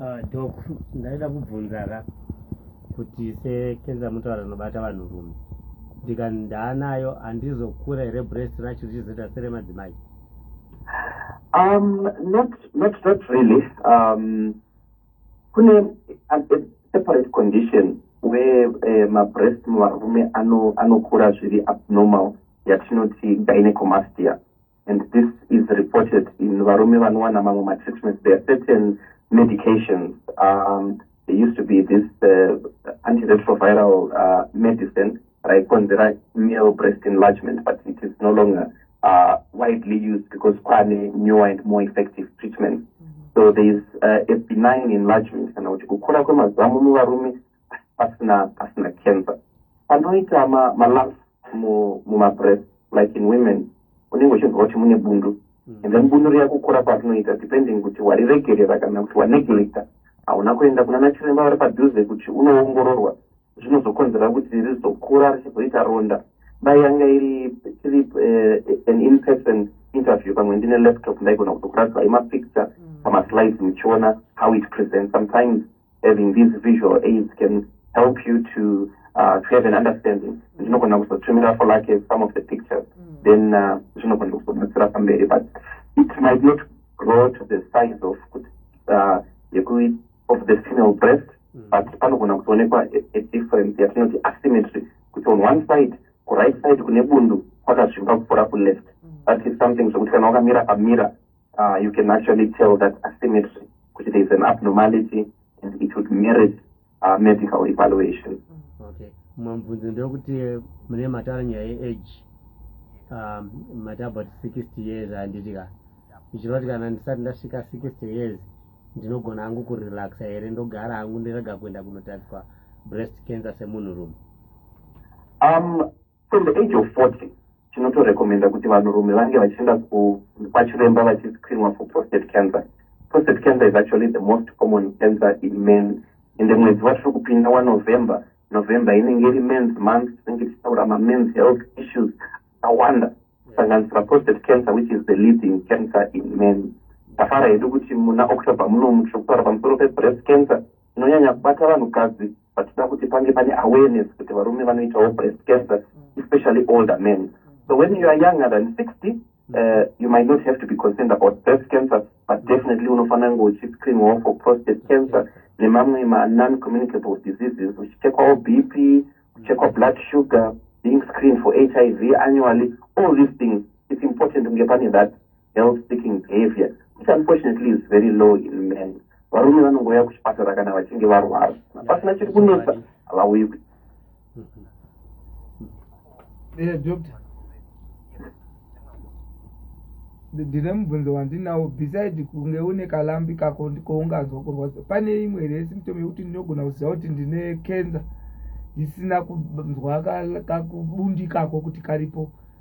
Ah, dok ndaida kubvunza ka kuti sekenza mutaura rinobata vanhu rume ndika ndaanayo handizokura here brest racho richizoita seremadzimai um not not not really um kune separate condition where uh, eh, mabrest muvarume anokura zviri abnormal yatinoti gynecomastia and this is reported in varume vanowana mamwe matreatments there are certain medications um, there used to be this uh, antiretroviral uh, medicine raikonzera male breast enlargement but it is no longer uh, widely used because kwane newer and more effective treatment mm -hmm. so there is uh, a benign enlargement kana kuti kukura kwemazamu muvarume pasina pasina cancer anoita malaf mumabreath like in women unenge uchinzwa kuti mune bundu mm. and then bundu riya kukura kwatinoita depending kuti wariregerera kana kuti waneglecta hauna kuenda kuna nachiremba vari padhuze kuti unoongororwa zvinozokonzera kuti rizokura richizoita ronda dai yanga iri tiri eh, an in person interview pamwe ndine laptop ndaigona kuzokuratidza imapicture mm. pamaslides muchiona how it presents sometimes having these visual aids can help you to uh, to have an understanding zvinogona kuzotumira for like some of the pictures mm. then uh, zvinogona uh, kuzobatsira pamberi but it might not grow to the size of uh, of the female breast mm. but panogona kuzoonekwa a difference yatinoti asymmetry kuti on one side kuright side kune bundu kwakazvimba kupfuura kuleft mm. that is something zvekuti kana wakamira pamira uh, you can actually tell that asymmetry kuti there is an abnormality and it would merit uh, medical evaluation okay mumwe mubvunzo ndewekuti mune matara nyaya yeage um, mati about 60 years handiti ka zvichireva kuti kana ndisati ndasvika 60 years ndinogona hangu kurelaxa here ndogara hangu ndirega kuenda kunotariswa breast cancer semunhurume um, From the age of 40 tinotorecommenda kuti vanhurume vange vachienda kwachiremba vachiscreenwa for prostate cancer prostate cancer is actually the most common cancer in men ende mwedzi watiri kupinda wanovember november inenge iri mens month tinenge tichitaura mamens health issues akawanda kusanganisira prostate cancer which is the leading cancer in men tafara hedu kuti muna october munomu tiri kutaura pamusoro pebreast cancer tinonyanya kubata vanhukadzi vachida kuti pange pane awareness kuti varume vanoitawo breast cancer especially older men so when you are younger than 60 uh, you might not have to be concerned about breast cancer but definitely unofanira kunge uchiscreenwawo for prostate cancer nemamwe manon communicable diseases uchichekwawo b p kuchekwa blood sugar being screened for h i v annually all these things it's important kunge pane that health seeking behavior which unfortunately is very low in men varume vanongouya kuchipatara kana vachinge varwara pasina chiri kunetsa havauyi ku eh, doctor ndine mubvunzo wandinawo beside kunge une kalambi kako ndikounganzwa kurwadza pane imwe here symptom yekuti ndinogona kuziva kuti ndine cancer ndisina kunzwa kakubundikako kuti karipo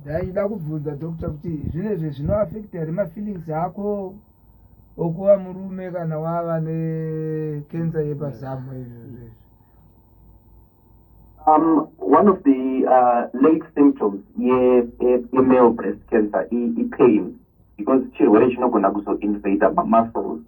ndaida kubvunza doctor kuti zvinhu izvi zvinoafekta here mafeelings ako okuva murume kana wava nekensa yepazamu izvozvo izvi um, one of the uh, late symptoms yemale breast cancer ipain because chirwere chinogona kuzoinvada mamuscles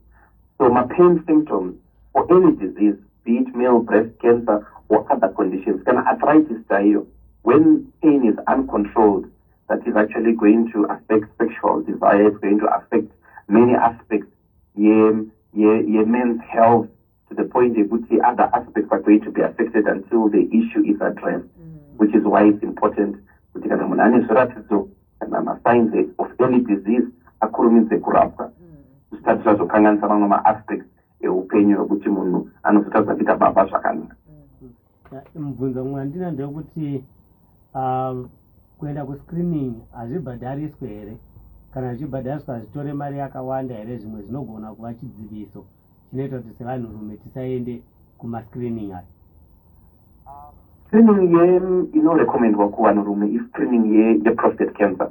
so mapain symptoms or any disease be it male breast cancer or other conditions kana arthritis chaiyo when pain is uncontrolled that is actually going to affect sexual desire is going to affect many aspects yemen's health to the point yekuti other aspects are going to be affected until the issue is addressed mm. which is why it's important kuti kana munhu ane zviratidzo kana masigns of any disease akurumidze kurapwa mm. zvisati zvazokanganisa mamwe maaspects eupenyu wekuti munhu anozotadza kuita baba zvakanaka mm. mubvunzo mumwe andina ndewekuti um, kuenda kuscreening hazvibhadhariswe here kana zvichibhadhariswa hazvitore mari yakawanda here zvimwe zvinogona kuva chidziviso chinoita kuti sevanhurume tisaende kumascreening aya um, screening ye inorecommendwa kuvanhurume iscreening yeprostate cancer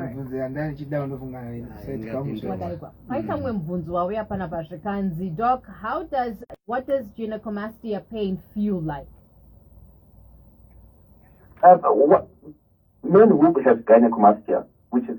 mibvunzo yanga ichida unofunga paikamwe mubvunzo wauya pana pazvikanzi doc how does what does gynecomastia pain feel like um, what, men who have gynecomastia which is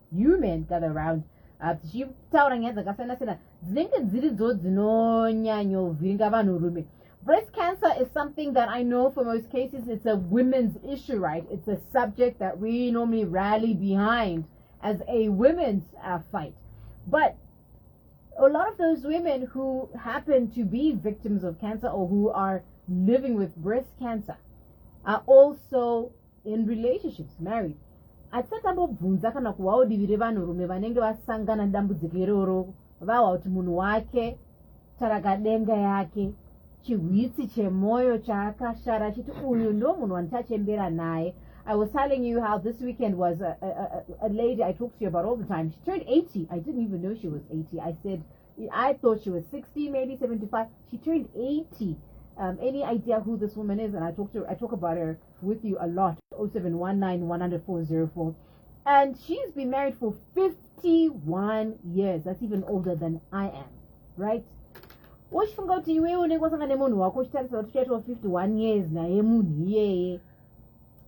human gather round ah, tichitaura nyaya dzakasiyana siyana dzinenge dziridzo dzinonyanyovhiringa vanhu rume breast cancer is something that i know for most cases it's a women's issue right it's a subject that we normally rally behind as a women's uh, fight but a lot of those women who happen to be victims of cancer or who are living with breast cancer are also in relationships married hatisati ambobvunza kana kuhwawo divi revanhurume vanenge vasangana nedambudziko iroro vahwa kuti munhu wake tarakadenga yake chihwitsi chemwoyo chaakashara achiti uyu ndo munhu wandichachembera naye i was telling you how this weekend was a, a, a, a lady i talked to you about all the time she turned 80 i didn't even know she was 80 i said I thought she was 60, maybe 75. She turned 80. Um, any idea who this woman is? And I talk to her, I talk about her with you a lot. 0719 And she's been married for 51 years. That's even older than I am, right? uchifunga kuti iwe unenge wasanga nemunhu wako uchitarisa kuti uchaitwa 51 years naye munhu iyeye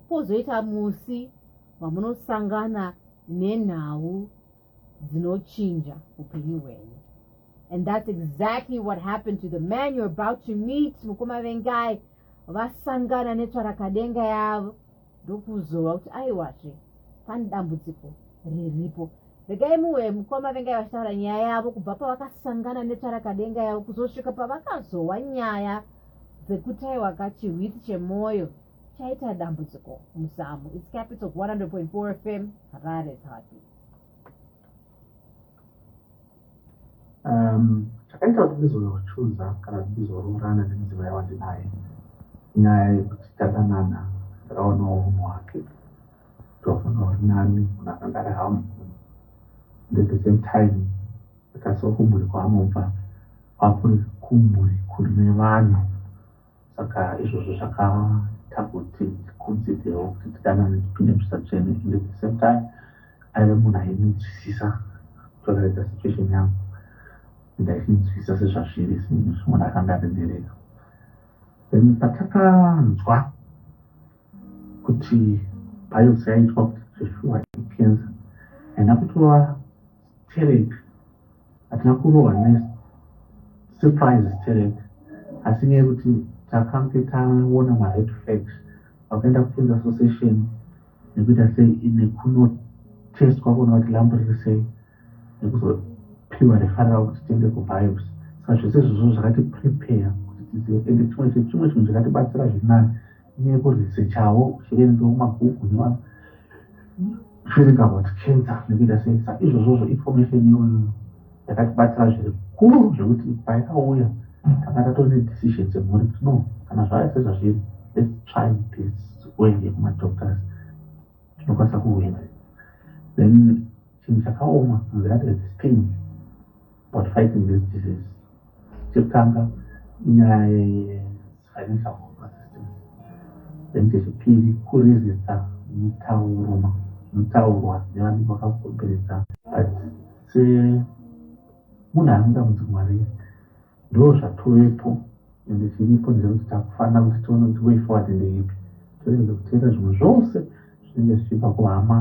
pozoita musi mamunosangana nenhau dzinochinja upenyu hwenyu and that's exactly what happened to the man you're about to meet mukoma vengai vasangana netsvarakadenga yavo ndokuzova kuti aiwazve pane dambudziko riripo regai muwe mukoma vengai vachitaura nyaya yavo kubva pavakasangana netsvarakadenga yavo kuzosvika pavakazohwa nyaya dzekuti aiwaka chihwiti chemwoyo chaita dambudziko muzamu its capital 100.4 fm harare zvapi um, chakaita kuti ndizochuza kana kuti ndizoroorana nemudzimai wandinaye nyaya yekuti tadanana ndaonawo munhu wake tofunga uri nani munhu akanga ari hamu at the same time akasiwa kumhuri kwaanobva kwakuri kumhuri kune vanhu Saka izvozvo zvakaita kuti tikonsiderewo kuti tidanane tipinde zvisatsvene and at the same time aive munhu ainzwisisa toraidza situation yangu and aichinzwisisa sezvazviri zvinhu zvimunhu akanga aremereka then patakanzwa kuti biopsy yaitwa kuti zveshuwa ikenza haina kutova stereki hatina kurohwa nesurprise sterek asi nyaya yekuti takange taona mared flags vakaenda kutenza association nekuita sei nekunotestwa kuona kuti lambo riri sei nekuzopiwa refarira kuti tiende kubios saka zvese izvozvo zvakati prepare kuti tizive ende chimwe chechimwe chinhu chakatibatsira zvinani nekuresechawo zviverenga mumabhuku nemaverenga about cancer nekuita sei sa izvozvozvo information iyoyo yakatibatsira zviri kuru zvekuti paikauya tanga tatone decision dzemhuri kuti no kana zvaya sezvazviri let's try this kuende kumadoctors tinokwanisa kuhwina then chinhu chakaoma nzira tezistin about fighting this disease chekutanga inyaya yefinancial help assistance then chechipiri kurizisa mitauruma mitaurwa nevanenge vakakomberedza but semunhu anoda mudzi mwari ndo zvatovepo ende chiripo ndechekuti takufanira kuti tione kuti way forward ndeipi toregedza kuteera zvimwe zvose zvinenge zvichibva kuhama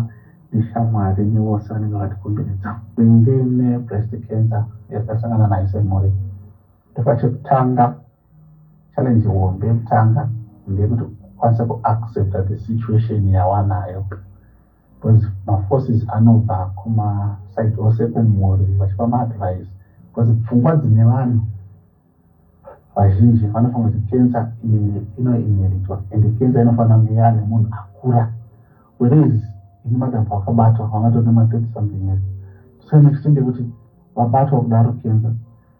neshamwari nevose vanenge vatikomberedza kunge nebreast cancer yatasangana nayo semhuri ndopachekutanga challenge hombe yekutanga ndeyekuti kwanisa kuaccepta the situation yawanayo because maforces anobva kumaside ose kumhuri vachipa maadvice because pfungwa dzine vanhu vazhinji vanofunga kuti kensa inoinheritwa and kensa inofanira kunge yaane munhu akura whereas ini madambo akabatwa vangatone matoti something else tosainextent yekuti vabatwa kudaro kensa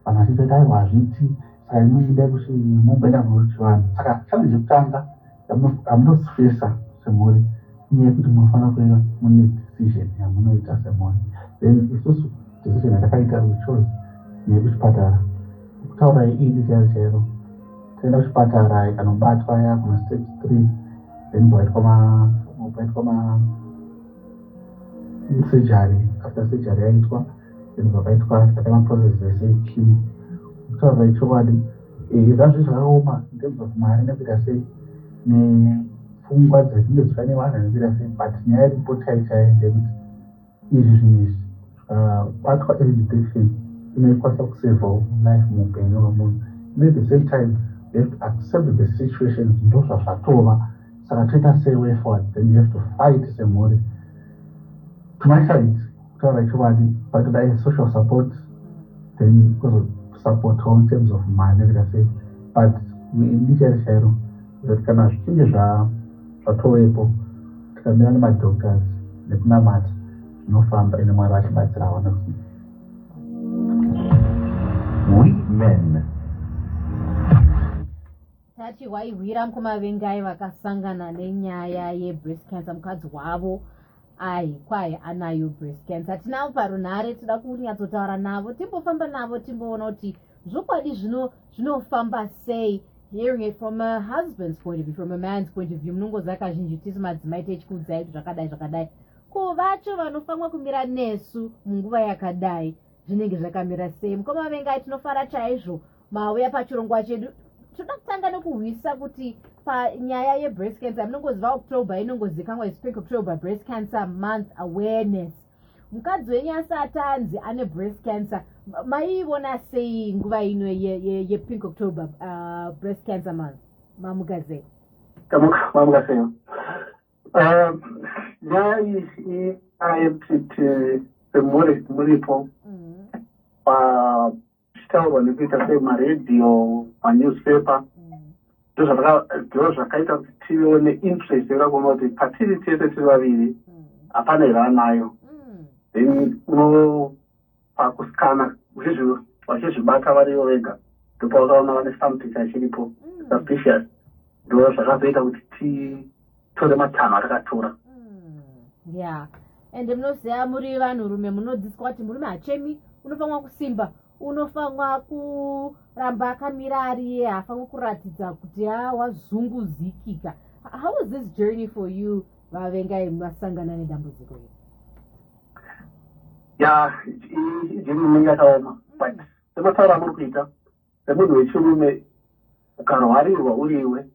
vanhu vachitoita aiwa hazviti saka inoida kuti mumboenda kuchivanhu saka challenge yekutanga amutosifesa semhuri inyaya kuti munofanira kuva mune decision yamunoita semhuri then isusu decision yatakaita wechoose nekuchipatara kutaura iidi chaiyo chairo toenda kuchipatara ikanobatwa ya kuna stage three then paitwa ma paitwa ma surgery after surgery yaitwa then pakaitwa takaita maprocess ese chimo kutaura ichokwadi Eh, zvazvo zvakaoma in terms of mari nekuita sei nepfungwa dzatinge dziva nevanhu nekuita sei but nyaya yeripoti chai chaiyo ndekuti izvi zvinhu izvi zvikabatwa ah, education inoikwanisa kusevawo life muupenyu hwemunhu and at the same time you have to accept the situation ndo zvazvatova saka toita sei way forward then you have to fight semhuri to my sides kutaura chokwadi patoda social support then kuzosupportwa in terms of mari nekuita sei but ndichairo chairo zvokuti kana zvichinge zvatovepo tikamira nemadoctors nekunamata zvinofamba ine mwari vachibatsirawo nekuti we men tati waihwira mukoma vengai vakasangana nenyaya yebreast cancer mukadzi wavo ai kwahi anayo breast cancer hatinavo parunhare tida kunyatsotaura navo timbofamba navo timboona kuti zvokwadi zvino zvinofamba sei hearing it from a husband's point of view from a man's point of view munongoziva kazhinji tisu madzimai techikuudzai kuti zvakadai zvakadai ko vacho vanofanwa kumira nesu munguva yakadai zvinenge zvakamira sei mukoma vengai tinofara chaizvo mauya pachirongwa chedu toda kutanga nekuhwisa kuti panyaya yebreast cancer munongoziva october inongozikanwa ispink october breast cancer month awareness mukadzi wenyu asati anzi ane breast cancer maiivona sei nguva ino yepink october uh, breast cancer month mamugazei mamugazei uh, nyaya iyi ayekutiti semuripo mm-hmm. uh, zvichitaurwa nekuita semaradio manewspaper ndizvo zvakaita kuti tivewo neinterest yekuda kuona kuti patiri tese tiri vaviri hapana here anayo then uno pakusikana vachizvibata varivo vega ndopaukaona vane something chachiripo suspicious ndo zvakazoita kuti ti tore matanho atakatora hmm, ya ende munoziva muri vanhu rume munodzidziswa kuti murume hachemi unofanwa kusimba unofanwa kuramba akamira ariye haafanwa kuratidza kuti a wazunguzikika how was this journey for you vavengai masangana nedambudziko iri ya ijeni inenge yakaoma but semataura amuri kuita semunhu wechirume ukarwarirwa uriwe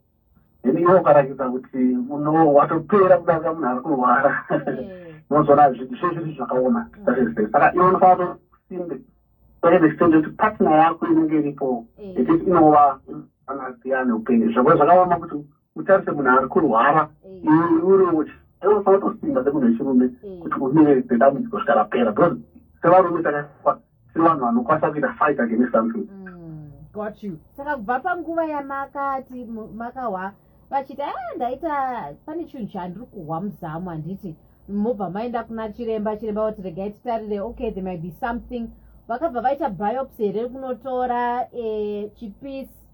then iwe ukarakidza kuti uno watopera kudarika munhu ari kurwara unozoona mm. zvinhu zvezviri zvakaoma mm. saka iwe unofanira kusimbe kwaeextend kuti partner yako inenge iripo mm. ekuti inova anasiyane upenyu zvakwe zvakaoma kuti utarise munhu ari kurwara uriunotosimba semunhu wechirume kuti umire nedambudziko svika rapera because sevarume takakwa tiri vanhu vanokwanisa kuita fight against something mm, got you saka kubva panguva yamakati makahwa vachiti a ah, ndaita pane chinhu chandiri kuhwa muzamu handiti mobva maenda kuna chiremba chiremba vati regai titarire okay there might be something vakabva vaita biopsy here kunotora eh, chipisi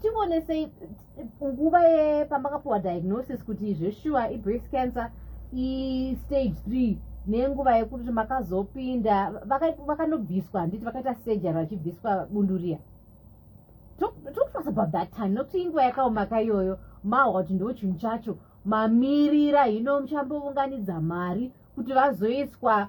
tionesei nguva yepamakapuwa diagnosis kuti zveshuwa ibreast cancer istage three nenguva yekuti makazopinda vakanobviswa handiti vakaita surgery vachibviswa bunduriya talk to us about that time nokuti inguva yakaomaka iyoyo mahwa kuti ndo chinhu chacho mamirira hino muchambovunganidza mari kuti vazoiswa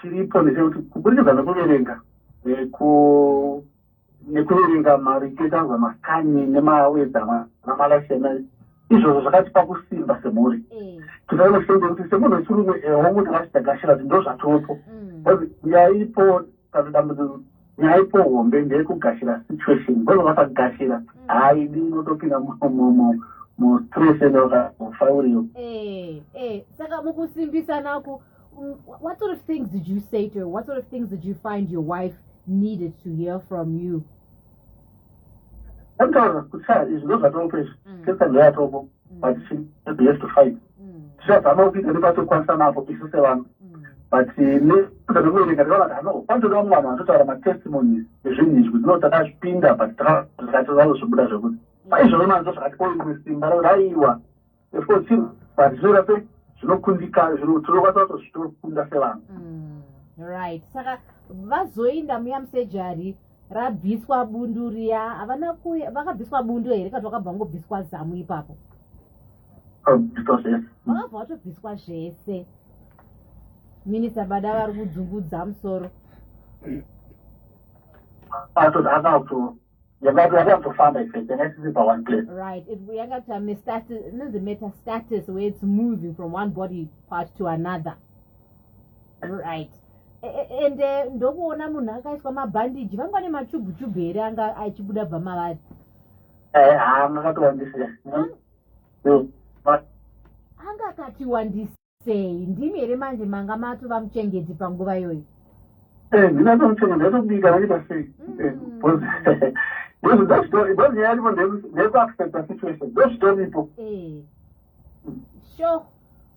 chiripo ndechekuti kuburikidza nekuverenga nekuverenga mariketanzwa makani nemawedzama namalashena izvozvo zvakatipa kusimba semhuri mm. tinonosende kuti semunhu wechirume ehongu tingatidagashira kuti ndo zvatopo mm. yaipo kana dambudziko nyaipo hombe ndeyekugashira situation bcause vakagashira mm. haidi inotopinda mustress ende vakazofa uriyo eh, eh. saka mukusimbisanaku Mm, what sort of things did you say to her? What sort of things did you find your wife needed to hear from you? Antaura kuchaya izvi ndozvatongoita izvi kesa ndoya tobo but she has yet to fight. Tichazama kupinda nepatokwanisa napo isu sevanhu but eh, nekuda kwekuverenga ndakaona kuti hano pandoda vamwe vanhu vanotaura matestimonies ezvinhu izvi kuti no takazvipinda but takazvikacho zvazo zvobuda zvekuti paizvove manzo zvakati oimwe simba rakuti aiwa efosiru but zvinoda sei zvinokundikana zvino tinokwanisa kuto zvitokunda sevanhu mm, right saka vazoinda muya musejari rabviswa bundu riya havana kuya vakabviswa bundu here kati vakabva vangobviswa zamu ipapo vakabviswa zvese vakabva vatobviswa zvese minista bada vari kudzungudza musoro atoti akabviswa yakati yakazofamba yanga isiri paone place right yanga tame status inonzi meta status where its moving from one body part to another right e, e, ende eh, ndokuona munhu akaiswa mabhandiji vanga ne machubu chubu here anga achibuda bva mavari eh, anga akatiwandisa hmm? hmm, anga akatiwandisa sei ndimi here manje manga matova muchengeti panguva iyoyi eh, ndinatomuchengeti atobika vaita sei because nyaya yaripo ndeyekuaccepta situation ndozvitoripo eh. sure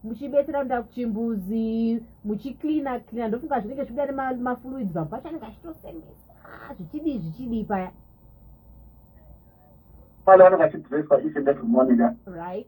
muchibetsera kuenda kuchimbuzi muchicleana cleana ndofunga zvinenge zvibuda nemafluids vanhu vacho anenge achitosemesa ah, zvichidii zvichidii paya pale vanenge achidresswa each and every morning right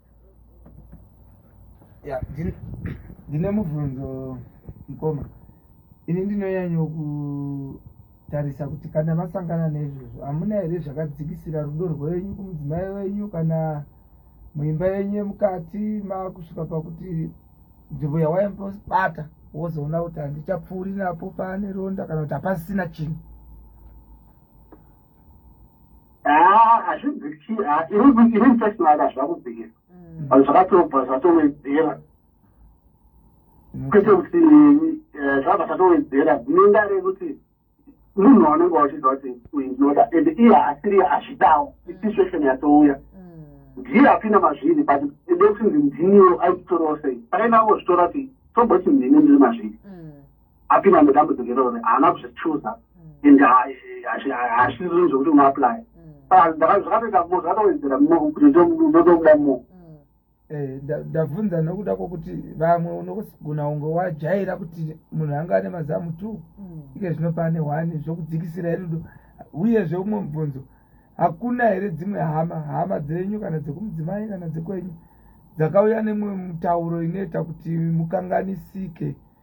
ya ndine mubvunzo mukoma ini ndinonyanyo kutarisa kuti kana masangana neizvozvo hamuna here zvakadzikisira rudo rwenyu kumudzimai wenyu kana muimba yenyu yemukati makusvika pakuti nzvimbo yawaimbospata wozoona kuti handichapfuuri napo paane ronda kana kuti hapasisina chinhu Ah, hazvizi kuchii ah, iri mfesnaka hazvina kubvira mm. vanhu zvakatobva zvatowedzera kwete kuti eh, zvabva zvatowedzera dzinenga rekuti munhu waunenge wachiziva kuti uyu ndinoda and iye haasiri hazvidawo mm. isituation yatouya mm. ndiye apinda mazviri but ende kuti ndiniwo aitorawo sei pakainavo zvitora kuti tomboti ndini ndiri mazviri apinda nedambudziko iroro haana kuzvichuza mm. and hazvizvinhu zvekuti unaapply mm. zvakatoita mo zvakatowedzera mo kuti ndotokuda mo mm. eh, ndabvunza nokuda kwokuti vamwe unogona unge wajaira kuti munhu anga ane mazamu two ike zvino pane one zvokudzikisira irudo uyezve umwe mubvunzo hakuna here dzimwe hama hama dzenyu kana dzekumudzimai kana dzekwenyu dzakauya nemwe mutauro inoita kuti mukanganisike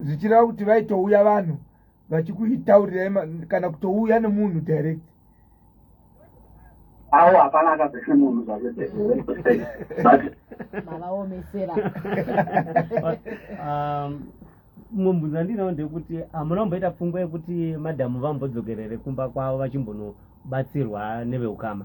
zvichireva kuti vaitouya vanhu vachikuitaurirai kana kutouya nemunhu direct awo hapana akazese munhu zvakemavaomesera um, mubvunzo andinawo ndekuti hamuna kumboita pfungwa yekuti madhamu vambodzokerere kumba kwavo vachimbonobatsirwa neveukama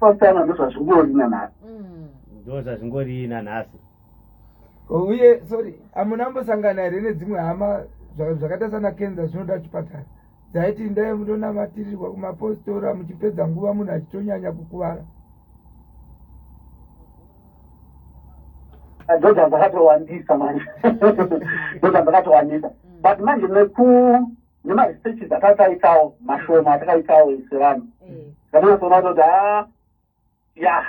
Pasana ndozvazvingori nanhasi. Mm. Ndozvazvingori nanhasi. Uye sorry, amuna ambosangana here nedzimwe hama zvakaita sana Kenza zvinoda chipatara. Dzaiti ndai mutonamatirirwa kumapostora muchipedza nguva munhu achitonyanya kukuvara. Dhodha dzakatowandisa manje. Dhodha dzakatowandisa. Mm. But manje neku nemaresearches atataitawo mashoma atakaitawo sevanhu mm. zvatinatsoona kutoti a ah, ya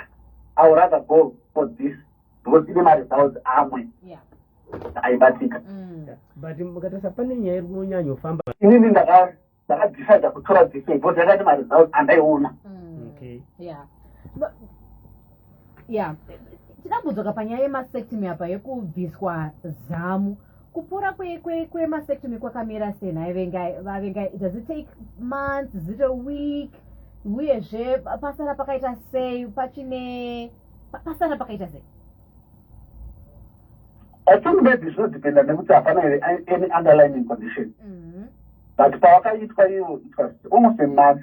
i would rather go for this because ine maresults amwe aibatika mm. but mukatarisa pane nyaya iri kunyanyofamba inini ndakadecide kutora this way because yakati maresults andaiona mm. ya tinambudzoka panyaya yemasectomy apa yekubviswa zamu kupora kwemasectomy kwakamira sei nhai vengai vavengai does it take months is it a week uyezve pasara pakaita sei pachine pasara pakaita sei i think maybe zvinodependa nekuti hapana here any underlining condition mm -hmm. but pawakaitwa iwo it was almost a month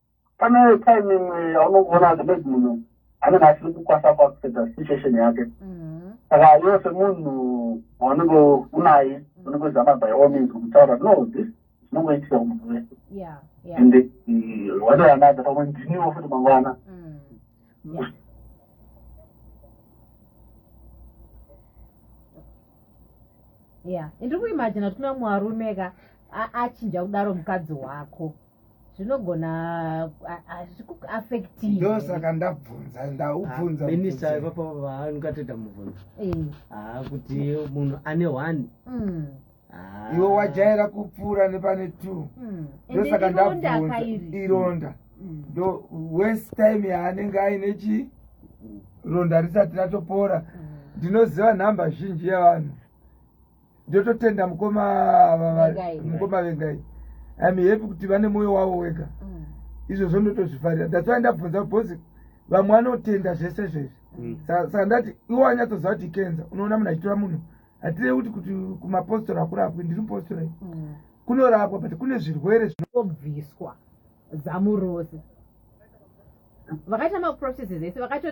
pane time imwe yaunogona kuti maybe munhu anenge asiri kukwasa kwakusedza situation yake mm-hmm. saka iwe semunhu waunenge unaye mm-hmm. unenge uzama by all means kutaura no this zvinongoitika kumunhu wese and uh, one way another pamwe ndiniwo futi mangwana mm. ya ndiri kuimajina kuti kuna mwarume ka achinja kudaro mukadzi wako zvinogona hazvikuaffectindosaka ndabvunza ndaubvunzaminista ah, ipapa vaangateta mubvunzo eh. ah, kuti munhu ane one hmm. ah. iwe wajaira kupfuura nepane two hmm. ndosaka ndabvunza ironda hmm. ndo west time yaanenge aine chi ronda risati ratopora ndinoziva nhamba zhinji yevanhu ndototenda mukoma mukoma vengai im happy kuti vane mwoyo wavo wega mm. izvozvo ndotozvifarira ndatsvai ndabvunza bhosi vamwe vanotenda zvese zvezvi mm. saka ndati iwo anyatsoziva kuti ikenza unoona munhu achitora munhu hatirei kuti kuti kumapostora akurapwi ndiri mupostora i mm. kunorapwa but kune zvirwere zvinobviswa zamu rose vakaita maprocesses ese vakatora